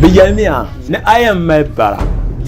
Bɛ yɛlimiya ni a yɛn mali bara,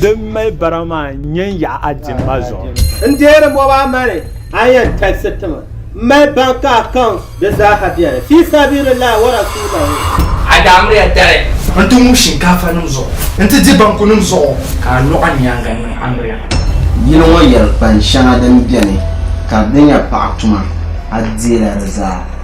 din mali bara maa n-nyɛ n yaɣi a dimma zuɣu. N deeri mɔba a mani a yɛn talisi ti ma. M mali bank account di zaaha beni. Fi sabilillahi wa rasuulahu. A daa miriya dali n-ti ŋub shinkaafanim zuɣu nti di bankunim zuɣu ka a luɣa nyaaŋa n-niŋ amiriya. Yili ŋɔ yɛlikpani shɛŋa din beni ka di nya paɣa tuma, a deela di zaa.